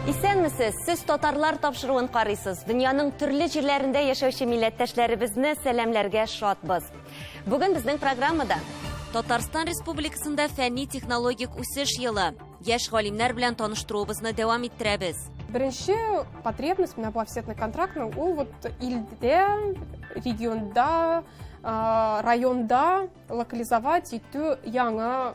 Исәнмесез! Сез татарлар тапшыруын карыйсыз. Дөньяның төрле җирләрендә яшәүче милләттәшләребезне сәламләргә шатбыз. Бүген безнең программада Татарстан Республикасында фәнни-технологик үсеш елы. Яшь галимнәр белән таныштыруыбызны дәвам иттерәбез. Беренче потребность менә бу офсетный контрактның ул вот илдә, регионда, районда локализовать итү яңа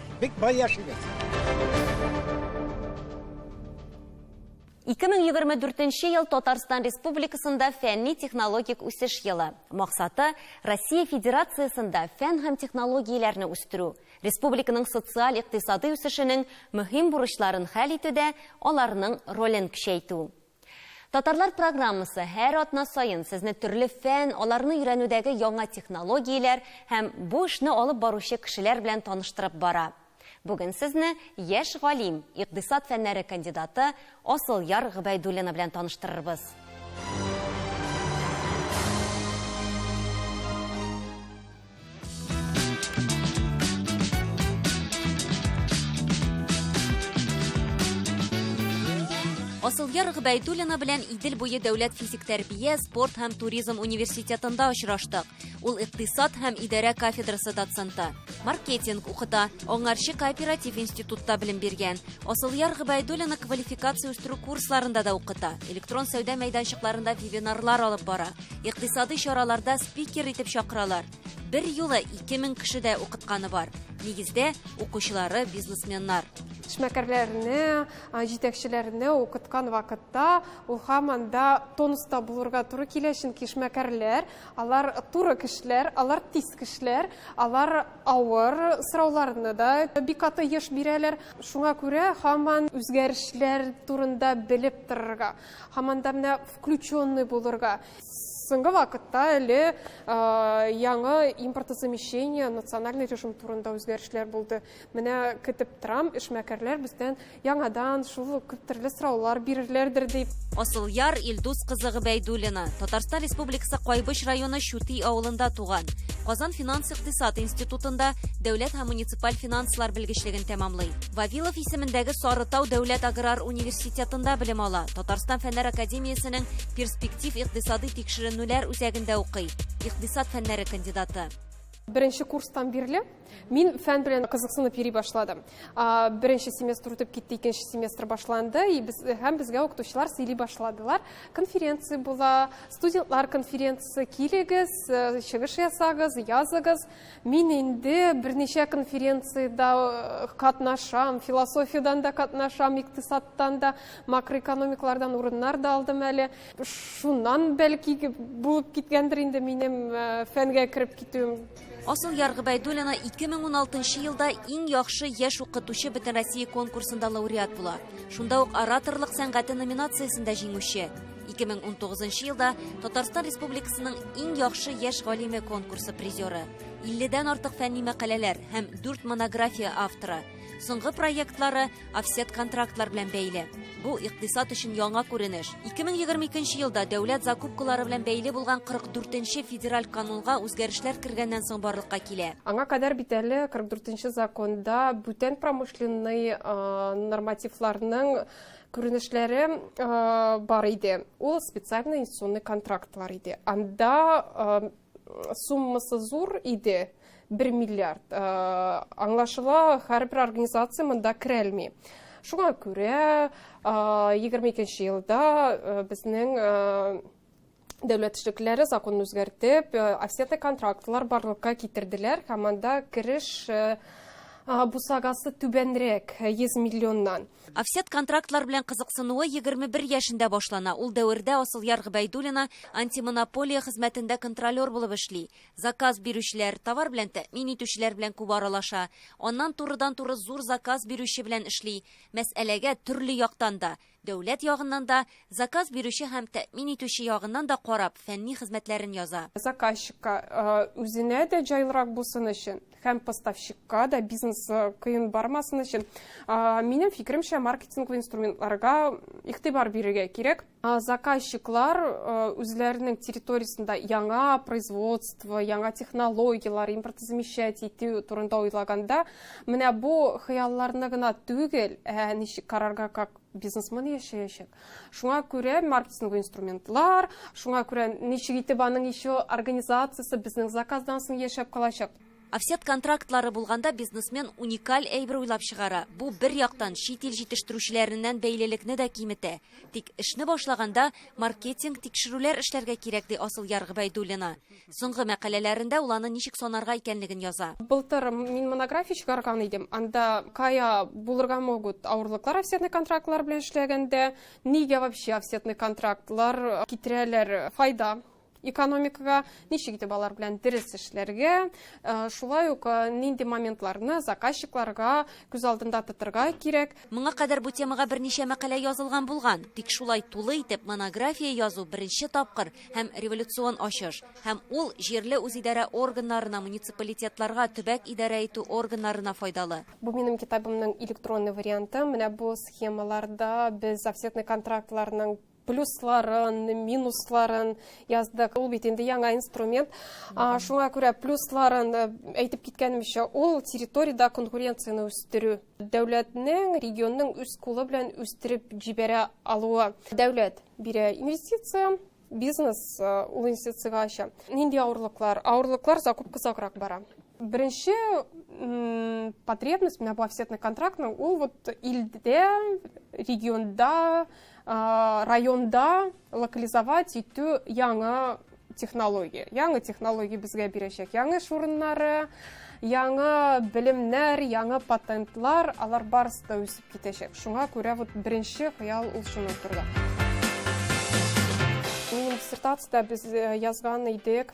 Бик бай яшигез. 2024 ел Татарстан Республикасында фәнни-технологик үсеш елы. Максаты, Россия Федерациясендә фән һәм технологияләрне үстерү, республиканың социаль-икътисадый үсешенең мөһим бурычларын хәл итүдә аларның ролен көчәйтү. Татарлар программасы һәр атна саен сезне төрле фән, аларны өйрәнүдәге яңа технологияләр һәм бу эшне алып баручы кешеләр белән таныштырып бара. Бүген сезне яшь галим, икъдисад фәннәре кандидаты Асылъяр Гобәйдуллина белән таныштырырбыз. Асылгер Гбәйдуллина белән Идел буе дәүләт физик тәрбия, спорт һәм туризм университетында очраштык. Ул икътисад һәм идарә кафедрасы доценты. Маркетинг укыта, аңарчы кооператив институтта белем биргән. Асылъяр Гбәйдуллина квалификация үстерү курсларында да укыта. Электрон сәүдә мәйданчыкларында вебинарлар алып бара. Икътисадый чараларда спикер итеп чакыралар. Бер юлы 2000 кеше дә укытканы бар. Нигездә укучылары бизнесменнар. Эшмәкәрләрне, җитәкчеләрне укыткан вакытта ул һаман да тонуста булырга туры килә, чөнки эшмәкәрләр, алар туры кешеләр, алар тиз кешеләр, алар авыр сорауларны да бик аты еш бирәләр. Шуңа күрә һаман үзгәрешләр турында белеп торырга, Һаман да менә включенный булырга. Соңгы вакытта әле яңа импортозамещение, национальный режим турында үзгәрешләр булды. Менә көтеп торам, эшмәкәрләр бездән яңадан шул күп төрле сораулар бирерләрдер дип. Асылъяр Илдус кызы Гобәйдуллина, Татарстан Республикасы Кайбыч районы Чүти авылында туган. Казан финанс-икътисад институтында дәүләт һәм муниципаль финанслар белгечлеген тәмамлый. Вавилов исемендәге Сарытау дәүләт аграр университетын Университетында белем ала, Татарстан фәннәр академиясенең перспектив икътисадый тикшеренүләр үзәгендә укый, икътисад фәннәре кандидаты. Беренче курстан бирле мин фән белән кызыксынып йөри башладым. Беренче семестр үтеп китте, икенче семестр башланды, и без һәм безгә укытучылар сөйли башладылар. Конференция була, студентлар конференциясе, килегез, э, чыгыш ясагыз, языгыз. Мин инде берничә конференциядә катнашам, философиядән дә катнашам, икътисадтан да, макроэкономиклардан урыннар да алдым әле. Шуннан бәлки булып киткәндер инде минем фәнгә кереп китүем. Асыл Яр Гобәйдуллина 2016 елда иң яхшы яшь укытучы бөтенроссия конкурсында лауреат була. Шунда ук ораторлык сәнгате номинациясендә җиңүче. 2019 елда Татарстан Республикасының иң яхшы яшь галиме конкурсы призеры, 50-дән артык фәнни мәкаләләр һәм 4 монография авторы. Соңгы проектлары офсет контрактлар белән бәйле. Бу икътисад өчен яңа күренеш. 2022 елда дәүләт закупкалары белән бәйле булган 44-нче федераль канунга үзгәрешләр кергәннән соң барлыкка килә. Аңа кадәр бит әле 44-нче законда бүтән промышленный нормативларның күренешләре бар иде. Ул специальный инвестиционный контрактлар иде. Анда суммасы зур иде, 1 миллиард. Аңлашыла, һәрбер организация монда керәлми. Шуңа күрә 22 елда безнең дәүләт эшлеклеләре законын үзгәртеп, э, офсетный контрактлар барлыкка китерделәр һәм анда кереш э, бусагасы түбәнрәк 100 э, миллионнан. Офсет контрактлар белән кызыксынуы 21 яшендә башлана. Ул дәвердә Асылъяр Гыбәйдуллина антимонополия хезмәтендә контролер булып эшли. Заказ бирүчеләр, товар белән тәэмин итүчеләр белән күп аралаша. Аннан турыдан-туры зур заказ бирүче белән эшли. Мәсьәләгә төрле яктан да Дәүләт ягыннан да, заказ бирүче һәм тәэмин итүче ягыннан да карап, фәнни хезмәтләрен яза. Заказчикка, үзенә дә җайлырак булсын өчен һәм поставщикка да бизнес кыен бармасын өчен, минем фикеремчә, маркетинглы инструментларга игътибар бирергә кирәк. Заказчиклар үзләренең территориясендә яңа производство, яңа технологияләр, импортозамещать итү турында уйлаганда, Менә бу хыялларны гына түгел, ә ничек карарга как бизнесмен яшәячәк. Шуңа күрә маркетинг инструментлар, шуңа күрә ничек итеп аның еще организациясе безнең заказдан соң яшәп калачак. Офсет контрактлары булганда бизнесмен уникаль әйбер уйлап чыгара. Бу бер яктан чит ил җитештерүчеләреннән бәйлелекне дә киметә. Тик эшне башлаганда маркетинг, тикшерүләр эшләргә кирәк, ди Асылъяр Гобәйдуллина. Соңгы мәкаләләрендә ул аны ничек санарга икәнлеген яза. Былтыр мин монография чыгарган идем. Анда кая булырга могут авырлыклар офсетный контрактлар белән эшләгәндә, нигә вообще офсетный контрактлар китерәләр файда экономикага, ничек итеп алар белән дөрес эшләргә, э, шулай ук э, нинди моментларны заказчикларга күз алдында тотырга кирәк. Моңа кадәр бу темага берничә мәкалә язылган булган, тик шулай тулы итеп монография язу беренче тапкыр. һәм революцион ачыш, һәм ул җирле үзидарә органнарына, муниципалитетларга, төбәк идарә итү органнарына файдалы. Бу минем китабымның электронный варианты. Менә бу схемаларда без офсетный контрактларның плюсларын, минусларын яздык. Ул бит инде яңа инструмент. Шуңа күрә плюсларын э, әйтеп киткәнемчә, ул территориядә конкуренцияне үстерү. Дәүләтнең регионның үз кулы белән үстереп җибәрә алуы. Дәүләт бирә инвестиция, бизнес э, ул инвестицияга ача. Нинди авырлыклар? Авырлыклар закупка саграк бара. Беренче потребность, менә бу офсетный контрактның, ул вот илдә, регионда районда локализовать итү яңа технология яңа технология безгә бирәчәк яңа эш урыннары яңа белемнәр яңа патентлар алар барысы да үсеп китәчәк шуңа күрә вот беренче хыял ул шуның турында диссертацияда без язган идек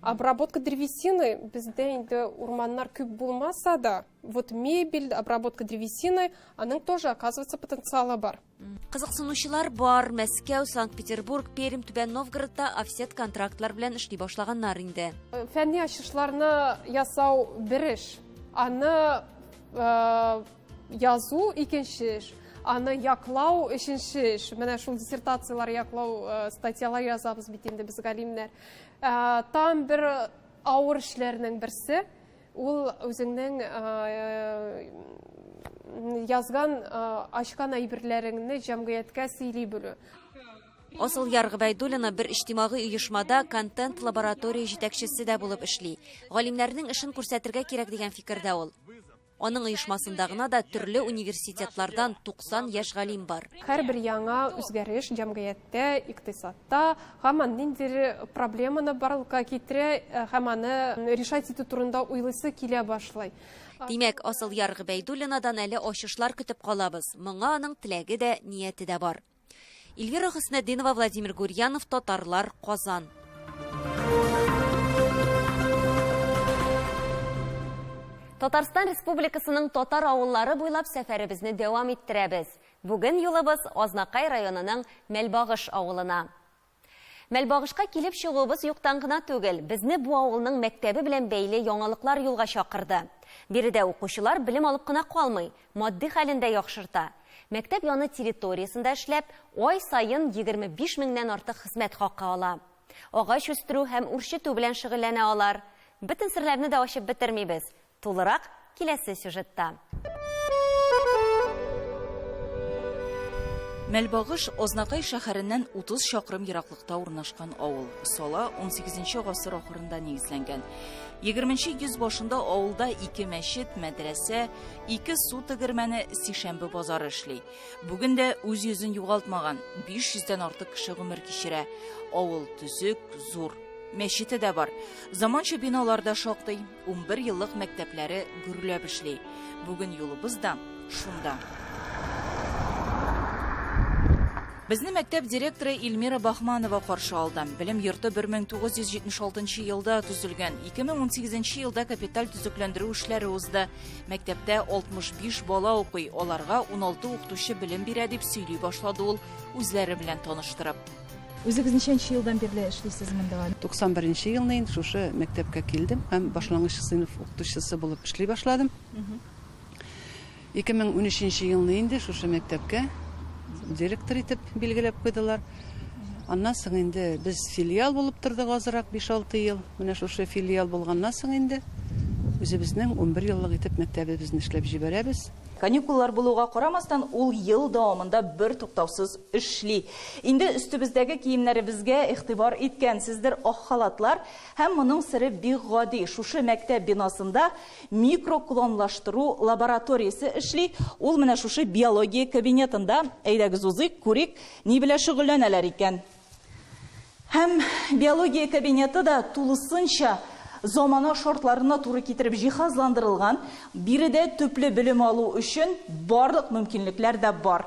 обработка древесины бездә инде урманнар күп булмаса да вот мебель обработка древесины аның тоже оказывается потенциалы бар кызыксынучылар бар мәскәү санкт петербург пермь түбән новгородта офсет контрактлар белән эшли башлаганнар инде э, фәнни ачышларны ясау бер эш аны э, Язу икенче эш, аны яклау өченче эш. Менә шул диссертацияләр яклау э, статьялар язабыз бит инде без галимнәр. Э, там бер авыр эшләрнең берсе ул үзеңнең язган ачкан әйберләреңне җәмгыятькә сөйли белү Асыл Яр Гыйбәйдуллина бер иҗтимагый оешмада контент лаборатория җитәкчесе дә булып эшли. Галимнәрнең эшен күрсәтергә кирәк дигән фикердә ул. Аның оешмасында гына да төрле университетлардан 90 яшь галим бар. Һәрбер яңа үзгәреш җәмгыятьтә, икътисадта һаман ниндидер проблеманы барлыкка китерә һәм аны решать итү турында уйлыйсы килә башлый. Димәк, Асылъяр Гыйбәйдуллинадан әле ачышлар көтеп калабыз. Моңа аның теләге дә, нияте дә бар. Ильвира Хөснәдинова, Владимир Гурьянов, Татарлар, Казан. Татарстан Республикасының татар авыллары буйлап сәфәребезне дәвам иттерәбез. Бүген юлыбыз Азнакай районының Мәлбагыш авылына. Мәлбагышка килеп чыгуыбыз юктан гына түгел, безне бу авылның мәктәбе белән бәйле яңалыклар юлга чакырды. Биредә укучылар белем алып кына калмый, матди хәлен дә яхшырта. Мәктәп яны территориясендә эшләп, ай саен 25 меңнән артык хезмәт хакы ала. Агач үстерү һәм үрчетү белән шөгыльләнә алар. Бөтен серләрне дә ачып бетермибез. Тулырак киләсе сюжетта. Мәлбагыш, Азнакай шәһәреннән 30 чакрым ераклыкта урнашкан авыл. Сала 18 гасыр ахырында нигезләнгән. 20 йөз башында авылда ике мәчет, мәдрәсә, ике су тегермәне, сишәмбе базары эшли. Бүген дә үз йөзен югалтмаган, 500 дән артык кеше гомер кичерә. Авыл төзек, зур. Мәчете дә бар. Заманча биналар да шактый. Унбер еллык мәктәпләре гөрләп эшли. Бүген юлыбыз да шунда. Безне мәктәп директоры Ильмира Бахманова каршы алды. Белем йорты 1976 елда төзелгән, 2018 елда капиталь төзекләндерү эшләре узды. Мәктәптә 65 бала укый, аларга 16 укытучы белем бирә, дип сөйли башлады ул, үзләре белән таныштырып. Үзегез ничәнче елдан бирле эшлисез монда? 91 елны инде шушы мәктәпкә килдем һәм башлангыч сыйныф укытучысы булып эшли башладым. 2013 елны инде шушы мәктәпкә директор итеп билгеләп куйдылар. Аннан соң инде без филиал булып тордык азрак 5-6 ел. Менә шушы филиал булганнан соң инде үзебезнең 11 еллык итеп мәктәбебезне эшләп җибәрәбез. Каникуллар булуга карамастан, ул ел дәвамында бертуктаусыз эшли. Инде өстебездәге киемнәребезгә игътибар иткәнсездер, ак халатлар. Һәм моның сере бик гади, шушы мәктәп бинасында микроклонлаштыру лабораториясе эшли, ул менә шушы биология кабинетында. Әйдәгез узыйк, күрик, ни белән шөгыльләнәләр икән. Һәм биология кабинеты да тулысынча замана шартларына туры китереп җиһазландырылган, биредә төпле белем алу өчен барлык мөмкинлекләр дә бар.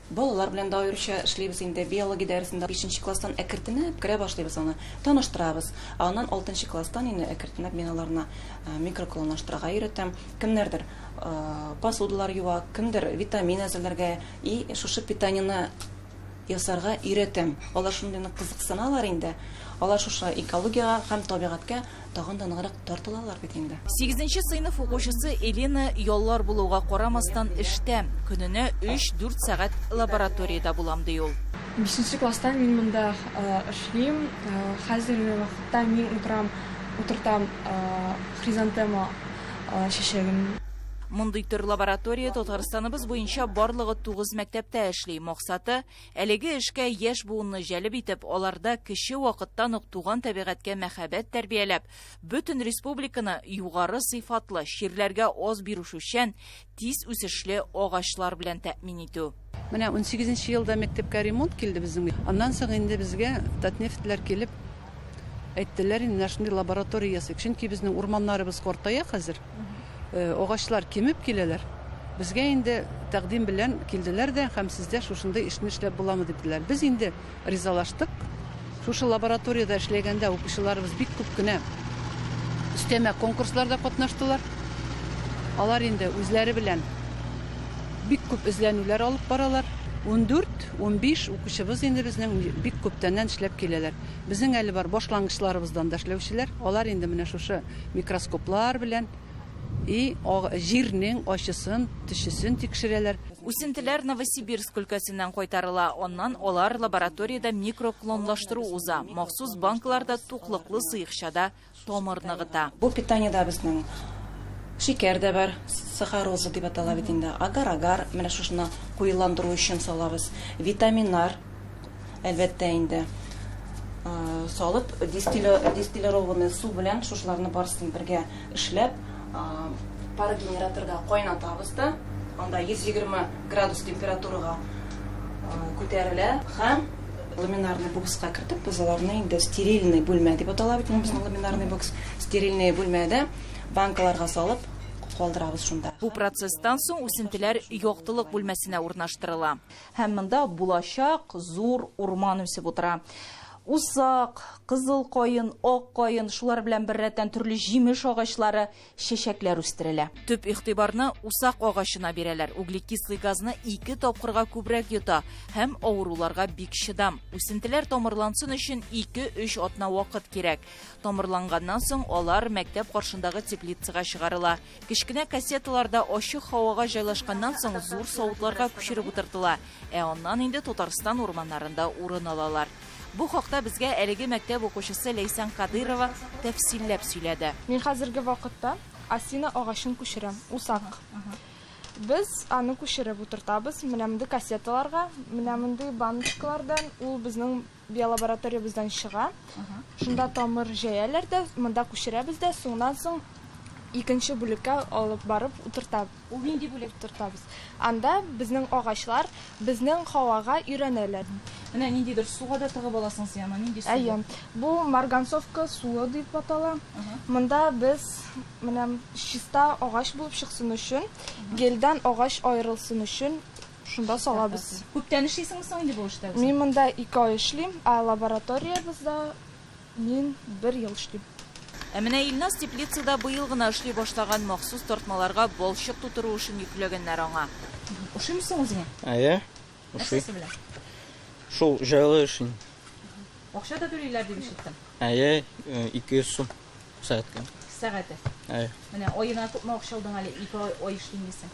Балалар белән дә аеруча эшлибез инде. Биология дәресендә бишенче класстан әкертенеп керә башлыйбыз аны. Таныштырабыз. Аннан алтынчы класстан инде әкертенеп мин аларны микроклонлаштырырга өйрәтәм. Кемнәрдер посудалар юа, кемдер витамин әзерләргә и шушы питаниене ясарга өйрәтәм. Алар шундый нык кызыксыналар инде. Алар шушы экологиягә һәм табигатькә тагын да ныграк тартылалар бит инде. Сигезенче сыйныф укучысы Элина яллар булуга карамастан эштә. Көненә өч-дүрт сәгать лабораториядә булам, ди ул. Бишенче класстан мин монда эшлим. Хәзерге вакытта мин утырам, утыртам хризантема чәчәген. Мондый төр лаборатория Татарстаныбыз буенча барлыгы тугыз мәктәптә эшли. Максаты, Әлеге эшкә яшь буынны җәлеп итеп, аларда кече вакыттан ук туган табигатькә мәхәббәт тәрбияләп, бөтен республиканы югары сыйфатлы, чирләргә аз бирүшүчән, тиз үсешле агачлар белән тәэмин итү. Менә унсигезенче елда мәктәпкә ремонт килде безнең. Аннан соң инде безгә Татнефтьләр килеп әйттеләр, менә шундый лаборатория ясыйк. Чөнки безнең урманнарыбыз картая хәзер. Агачлар кимеп киләләр. Безгә инде тәкъдим белән килделәр дә һәм сездә шушындый эшне эшләп буламы дип диделәр. Без инде ризалаштык. Шушы лабораториядә эшләгәндә укучыларыбыз бик күп кенә өстәмә конкурсларда катнаштылар. Алар инде үзләре белән бик күп эзләнүләр алып баралар. Ундүрт, унбиш укучыбыз инде безнең бик күптәннән эшләп киләләр. Безнең әле бар башлангычларыбыздан да эшләүчеләр. Алар инде менә шушы микроскоплар белән и җирнең ачысын, төчесен тикшерәләр. Үсентеләр Новосибирск өлкәсеннән кайтарыла, аннан алар лабораториядә микроклонлаштыру уза, махсус банкаларда туклыклы сыекчада тамыр ныгыта. Бу питаниедә безнең шикәр дә бар, сахароза дип атала бит инде, агар-агар, менә шушына куеландыру өчен салабыз, витаминнар, әлбәттә инде салып дистиллированный су белән шушыларны барысын бергә эшләп пар генераторга кайнатабыз да анда 120 градус температурага күтәрелә һәм ламинарный бокска кертеп без аларны инде стерильный бүлмә дип атала бит безнең ламинарный бокс стерильный бүлмәдә банкаларга салып калдырабыз шунда. Бу процесстан соң үсентеләр яктылык бүлмәсенә урнаштырыла. Һәм монда булачак зур урман үсеп утыра. Усак, кызыл каен, ак каен, шулар белән беррәттән төрле җимеш агачлары, чәчәкләр үстерелә. Төп игътибарны усак агачына бирәләр, углекислый газны ике тапкырга күбрәк йота һәм авыруларга бик чыдам. Үсентеләр тамырлансын өчен ике-өч атна вакыт кирәк. Тамырланганнан соң алар мәктәп каршындагы теплицага чыгарыла. Кечкенә кассеталар да ачык һавага җайлашканнан соң зур савытларга күчереп утыртыла, ә аннан инде Татарстан урманнарында урын алалар. Бу хакта безгә әлеге мәктәп укучысы Ләйсән Кадыйрова тәфсилләп сөйләде. Мин хәзерге вакытта осина агачын күчерәм, усак. Без аны күчереп утыртабыз менә мондый кассеталарга, менә мондый баночкалардан, ул безнең Биолабораториябездән чыга. Шунда тамыр җәяләр дә, монда күчерәбез дә, соңнан соң икенче бүлеккә алып барып утырта. Ул нинди бүлек? Утыртабыз. Анда безнең агачлар безнең һавага өйрәнәләр. Менә ниндидер суга да тыгып аласың син аны, нинди су? Әйе, бу марганцовка суы дип атала. Монда без менә чиста агач булып чыксын өчен, гельдән агач аерылсын өчен Шунда салабыз. Күптән эшлисеңме соң инде бу эштә? Мин монда ике ай эшлим, ә лабораториябездә мин бер ел эшлим. Ә менә Илназ теплицада быел гына эшли башлаган, махсус тартмаларга балчык тутыру эшен йөкләгәннәр аңа. Ошыймы соң үзеңә? Әйе, ошый. Нәрсәсе белән? Шул җайлы эш инде. Акча да түлиләр дип ишеттем. Әйе, 200 сум сәгатькә. Сәгате? Әйе. Менә аена күпме акча алдың әле, ике ай эшлим дисең?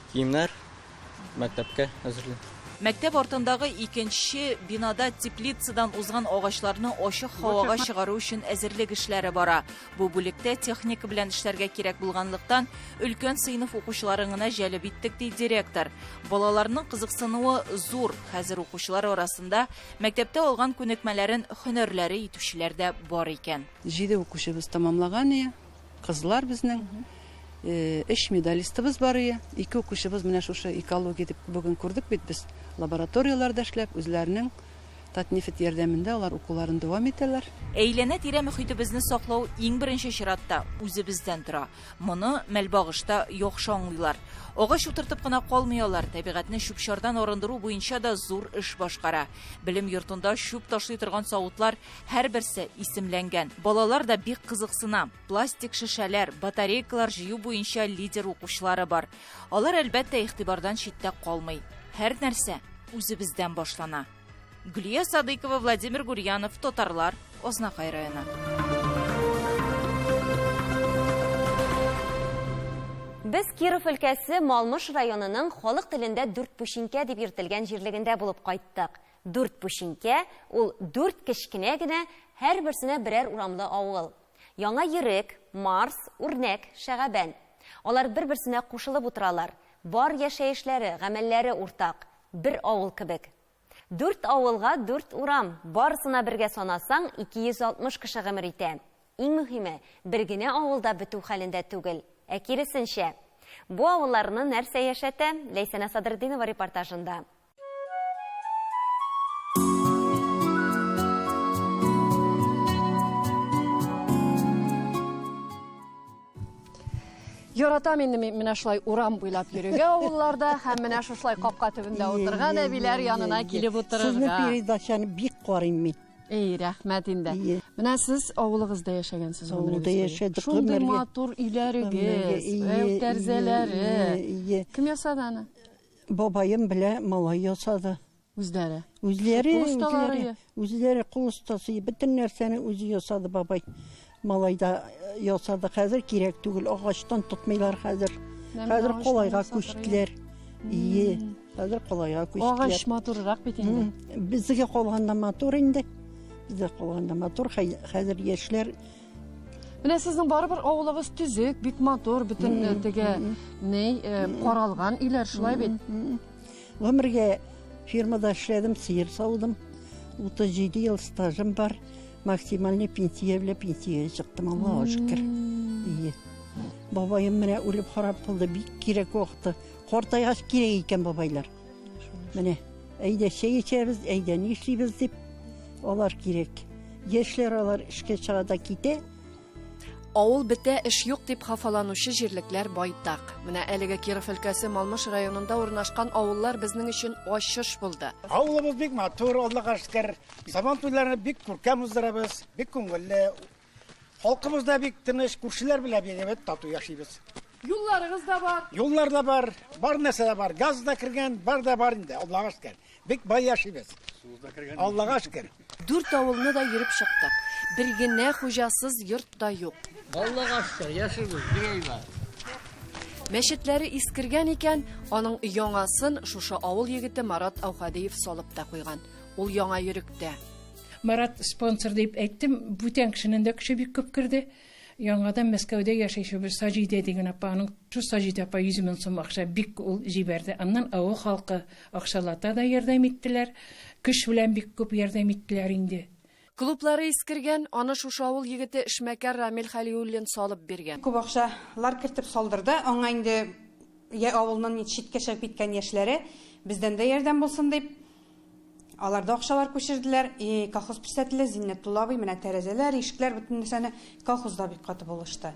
Киемнәр мәктәпкә әзерлим. Мәктәп артындагы икенче бинада теплицадан узган агачларны ачык һавага чыгару өчен әзерлек эшләре бара. Бу бүлектә техника белән эшләргә кирәк булганлыктан, өлкән сыйныф укучыларын гына җәлеп иттек, ди директор. Балаларның кызыксынуы зур, хәзер укучылар арасында мәктәптә алган күнекмәләрен һөнәрләре итүчеләр дә бар икән. Җиде укучыбыз тәмамлаган ие. Кызлар безнең өч медалистыбыз бар ие. Ике укучыбыз менә шушы экология дип бүген күрдек бит без. Лабораторияләрдә эшләп, үзләренең Татнефть ярдәмендә алар укуларын дәвам итәләр. Әйләнә-тирә мөхитебезне саклау иң беренче чиратта үзебездән тора. Моны Мәлбагышта яхшы аңлыйлар. Агач утыртып кына калмый алар, табигатьне чүп-чардан арындыру буенча да зур эш башкара. Белем йортында чүп ташлый торган савытлар Һәрберсе исемләнгән. Балалар да бик кызыксына. Пластик шешәләр, батарейкалар җыю буенча лидер укучылары бар. Алар, әлбәттә, игътибардан читтә калмый. Һәр нәрсә үзебездән башлана. Гөлия Садыкова, Владимир Гурьянов, Татарлар, Ознакай районы. Без Киров өлкәсе Малмыш районының халык телендә дүрт пүчинкә дип йөртелгән җирлегендә булып кайттык. Дүрт пүчинкә, ул дүрт кечкенә генә, һәрберсенә берәр урамлы авыл. Яңа Йөрек, Марс, Үрнәк, Шәгабән. Алар бер-берсенә кушылып утыралар. Бар яшәешләре, гамәлләре уртак. Бер авыл кебек. Дүрт авылга дүрт урам, барысына бергә санасаң, 260 кеше гомер итә. Иң мөһиме, бер генә авылда бетү хәлендә түгел, ә киресенчә. Бу авылларны нәрсә яшәтә? Ләйсәнә Садретдинова репортажында. Яратам инде мин менә шулай урам буйлап йөрергә авылларда һәм менә шушылай капка төбендә утырган әбиләр янына килеп утырырга. Сезне передачаны бик карыйм мин. Эй, рәхмәт инде. Менә сез авылыгызда яшәгәнсез гомергез. Авылда яшәдек. Шундый матур өйләрегез, тәрзәләре. Кем ясады аны? Бабаем белә малай ясады. Үзләре. Үзләре, Кул осталары үзләре, я? үзләре кул остасы. Бөтен нәрсәне үзе ясады бабай. Малай да э, ясады. Хәзер кирәк түгел. Агачтан тотмыйлар хәзер. Менә Хәзер агачтан колайга ясатырга. күчтеләр. Ие, хәзер колайга күчтеләр. Агач матуррак бит инде. М, Безгә калганда матур инде. Безгә калганда матур. Хәй- Хәзер яшьләр Менә сезнең барыбер авылыгыз төзек, бик матур, бөтен э, теге ни э, каралган өйләр шулай бит. Гомергә фирмада эшләдем, сыер саудым. 37 ел стажым бар. Максимальный пенсия белән пенсиягә чыктым, Аллаһу шөкер. Ие. Бабаем менә үлеп харап булды, бик кирәк вакыты. Картайгач кирәк икән бабайлар. Менә, әйдә чәй эчәбез, әйдә ни эшлибез дип, алар кирәк. Яшьләр алар эшкә чыга да китә. Авыл бетә, эш юк дип хафаланучы җирлекләр байтак. Менә әлеге Киров өлкәсе Малмыш районында урнашкан авыллар безнең өчен ачыш булды. Авылыбыз бик матур, Аллага шөкер. Сабан туйларын бик күркәм уздырабыз, бик күңелле. Халкыбыз да бик тыныч, күршеләр белән бик әйбәт тату яшибез. Юлларыгыз да бар. Юллар да бар, бар нәрсә дә бар. Газ да кергән, бар да бар инде, Аллага шөкер. Бик бай яшибез. Аллага шөкер. Дүрт авылны да йөреп чыктык. Бер генә хуҗасыз йорт та юк. Аллага шөкер, яшибез, бик әйбәт. Мәчетләре искергән икән, аның яңасын шушы авыл егете Марат Аухадиев салып та куйган. Ул яңа йөректә. Марат спонсор дип әйттем, бүтән кешенең дә көче бик күп керде. Яңадан Мәскәүдә яшәүче бер Саҗидә дигән апа, аның шул Саҗидә апа 100 мең сум акча бик ул җибәрде. Аннан авыл халкы акчалата да ярдәм иттеләр, көч белән бик күп ярдәм иттеләр инде. Клублары искергән, аны шушы авыл егете эшмәкәр Рамил Хәлиуллин салып биргән. Күп акчалар кертеп салдырды. Аңа инде йә авылның читкә чыгып киткән яшьләре, бездән дә ярдәм булсын дип, Алар да акчалар күчерделәр. И, колхоз писателе Зиннәтулла абый, менә тәрәзәләр, ишекләр, бөтен нәрсәне колхозда бик каты булышты.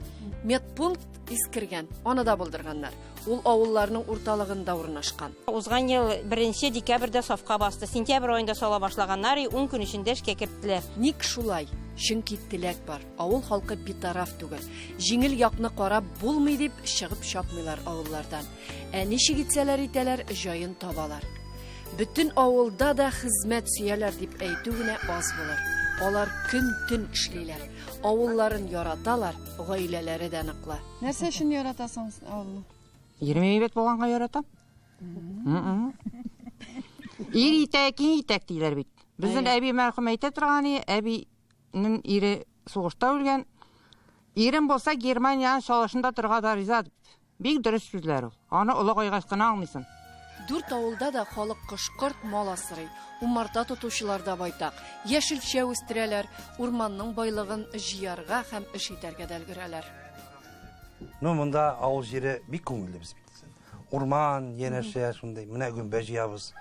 Медпункт искергән, аны да булдырганнар. Ул авылларның урталыгында урнашкан. Узган ел беренче декабрьдә сафка басты. Сентябрь аенда сала башлаганнар, и ун көн эчендә эшкә керттеләр. Ник шулай? Чөнки теләк бар. Авыл халкы битараф түгел. Җиңел якны карап булмый дип, чыгып чапмыйлар авыллардан. Ә ничек итсәләр итәләр, җаен табалар. Бөтен авылда да хезмәт сөяләр дип әйтү генә аз булыр. Алар көн-төн эшлиләр. Авылларын яраталар, гаиләләре дә ныклы. Нәрсә өчен яратасың авылны? Ирем әйбәт булганга яратам. Ир итәк, киң итәк диләр бит. Безнең әби мәрхүм әйтә торган, әбинең ире сугышта үлгән. Ирем булса Германиянең шалашында торга да риза Бик дөрес сүзләр ул. Аны олагайгач кына аңлыйсың. Дүрт авылда да халык кош-корт, мал асрый. Умарта тотучылар да байтак. Яшелчә үстерәләр, урманның байлыгын җыярга һәм эш итәргә дә өлгерәләр. Ну, монда авыл җире бик күңелле без бит. Урман, янәшә шундый. Менә гөмбә җыябыз.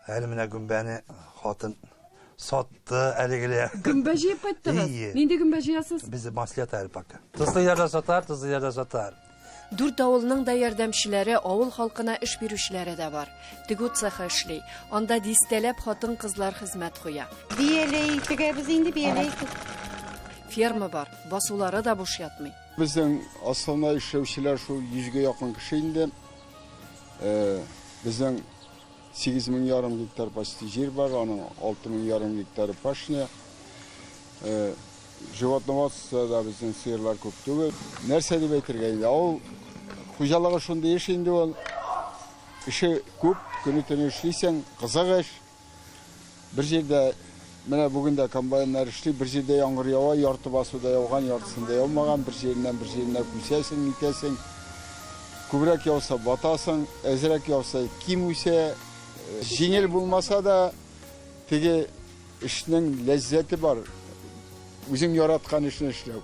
Әле менә гөмбәне хатын сатты әлегеле. Гөмбә җыеп кайттыгыз? Ие. Нинди гөмбә җыясыз? Без маслет әле пока. Тозлы ярда сатар, тозлы ярда сатар. Дүрт авылның да ярдәмчеләре, авыл халкына эш бирүчеләре дә бар. Тегү цехы эшли. Анда дистәләп хатын-кызлар хезмәт куя. Бияләй тегәбез инде, бияләй. Ферма бар, басулары да буш ятмый. Безнең асхана эшләүчеләр шул йөзгә якын кеше инде. Э, Безнең 8 мең ярым гектар почти җир бар, аның 6 мең ярым гектары пашня. Э, Животноводствода безнең сыерлар күп түгел. Нәрсә дип әйтергә инде? Авыл хуҗалыгы шундый эш инде ул. Эше күп, көне-төне эшлисең, кызык эш. Бер җирдә менә бүген дә комбайннар эшли, бер җирдә яңгыр ява, ярты басуда яуган, яртысында яумаган, бер җиреннән бер җиренә күчәсең, нитәсең. Күбрәк яуса батасың, әзрәк яуса ким үсә. Җиңел булмаса да, теге эшнең ләззәте бар. Үзең яраткан эшне эшләү.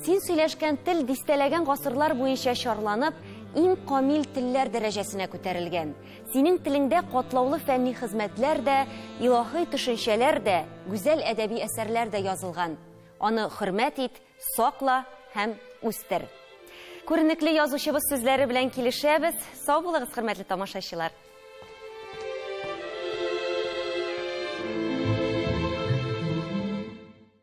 Син сөйләшкән тел дистәләгән гасырлар буенча чарланып, иң камил телләр дәрәҗәсенә күтәрелгән. Синең телеңдә катлаулы фәнни хезмәтләр дә, илаһый төшенчәләр дә, гүзәл әдәби әсәрләр дә язылган. Аны хөрмәт ит, сакла һәм үстер. Күренекле язучыбыз сүзләре белән килешәбез. Сау булыгыз, хөрмәтле тамашачылар!